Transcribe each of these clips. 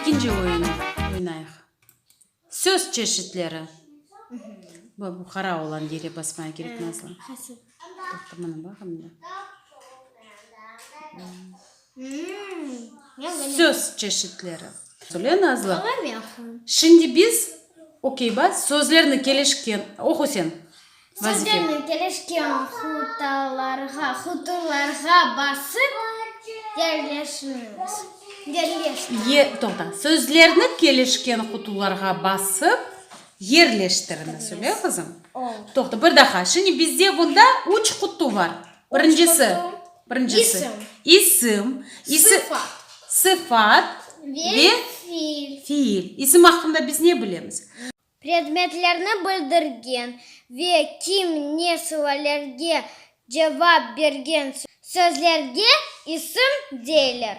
İkinci oyun oynayıq. Söz çeşitleri. Bu qara olan yere basmaya kerek, Nazlı. Söz çeşitleri. Söyle, Nazlı. Şimdi biz, okey, bas, sözlerni kelişken oqu sen. Sözlernen kelişken hutalarğa, huturlarğa basıp yerleştiriñiz. Ye, toqta. Sözlerni kelişken hutularğa basıp yerleştiriñiz. Öyle, qızım? Oldı. Toqta, bir daha. Şimdi bizde bunda üç hutu bar. Birincisi. Birincisi. İsim. İsim. Sıfat. Sıfat. Ve fiil. Fiil. İsim aqqında biz ne bilemiz? predmetlerni bildirgen ve kim ne suallerge cevap bergen sözlerge isim deyler.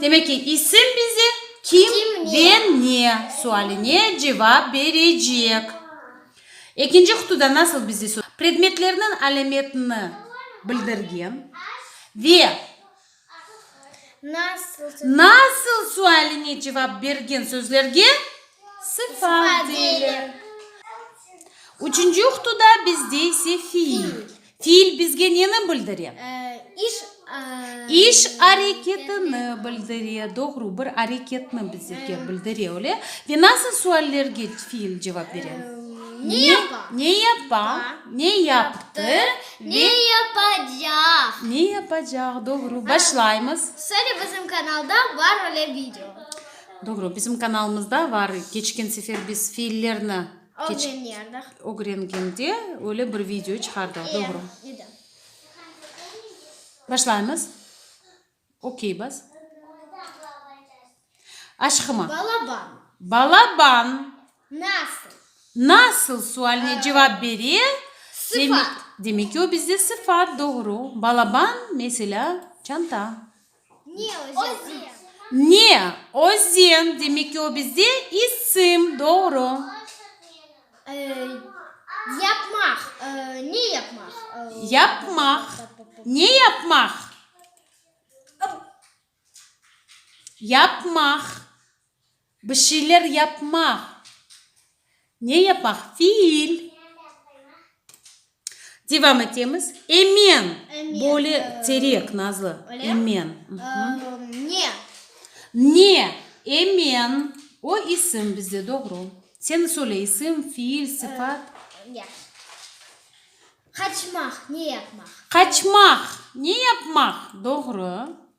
Demek ki, isim bize kim ve ne sualine cevap berecek. Ekinci qıtuda nasıl bize sorular? Predmetlerniñ alâmetini bildirgen ve. Nasıl sualine cevap bergen sözlerge sıfat deyler. Üçünci uqtuda bizde ise fiil. Fiil bizge neni bildire? İş areketini bildire. Doğru, bir areketni bizlerge bildire, öyle. Ve nasıl suallerge fiil cevap bere? Ne yapa? Ne yaptı? Ne yapacaq? Ne yapacaq, doğru. Başlaymız. Söyle bizim kanalda bar öyle video. Doğru, bizim kanalımızda bar. Keçken sefer biz fiillerni keç- Ögreniyordıq. ögrengende öyle bir video çıqardıq. Doğru. Başlaymız. Okey bas. Aşqıma. Balaban. Balaban. Nasıl. Nasıl sualine cevap bere. Sıfat. Demek ki, o bizde sıfat, doğru. Balaban, meselâ, çanta. Ne özen. Ne özen. Demek ki, o bizde isim, doğru. Yapmaq, ne yapmaq? Yapmaq, ne yapmaq? Yapmaq, bir şeyler yapmaq. Ne yapmaq? Fiil. Devam etemiz. Emen. Böyle terek, nazlı. Emen. Ne. Ne. Emen. O, isim bizde, doğru. Sen söyle, isim, fiil, sıfat. Qaçmaq, ne yapmaq. Qaçmaq, ne yapmaq, doğru.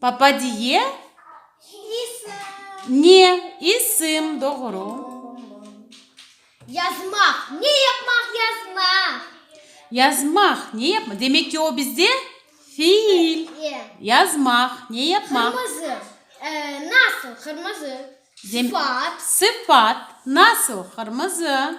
Papadiye, ne isim, doğru. Yazmaq, ne yapmaq, yazmaq. Yazmaq, ne yapmaq. Demek ki, o bizde fiil. Yazmaq, ne yapmaq. Qırmızı, nasıl, qırmızı. Sıfat. Sıfat, nasıl, qırmızı.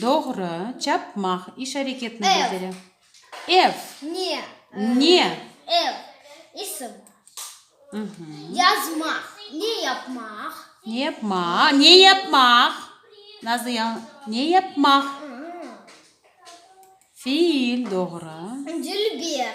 Doğru. Çapmaq, iş areketini bildire. Ev. Ne. Ne. Ev, isim. Yazmaq, ne yapmaq. Ne yapmaq, ne yapmaq. Nazlı ya, ne yapmaq. Fiil, doğru. Dilber,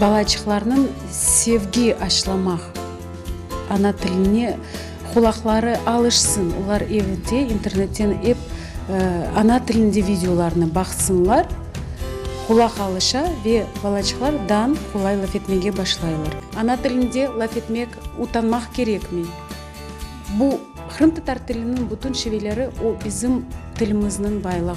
Balaçıqlarnıñ sevgi aşlamaq, ana tiline qulaqları alışsın, olar evde internetten ep ana tilinde videolarnı baqsınlar, qulaq alışa ve balaçıqlar dan qolay laf etmege başlaylar. Ana tilinde laf etmek utanmaq kerekmi? Bu, qırımtatar tiliniñ bütün şiveleri, o bizim tilimizniñ baylığı.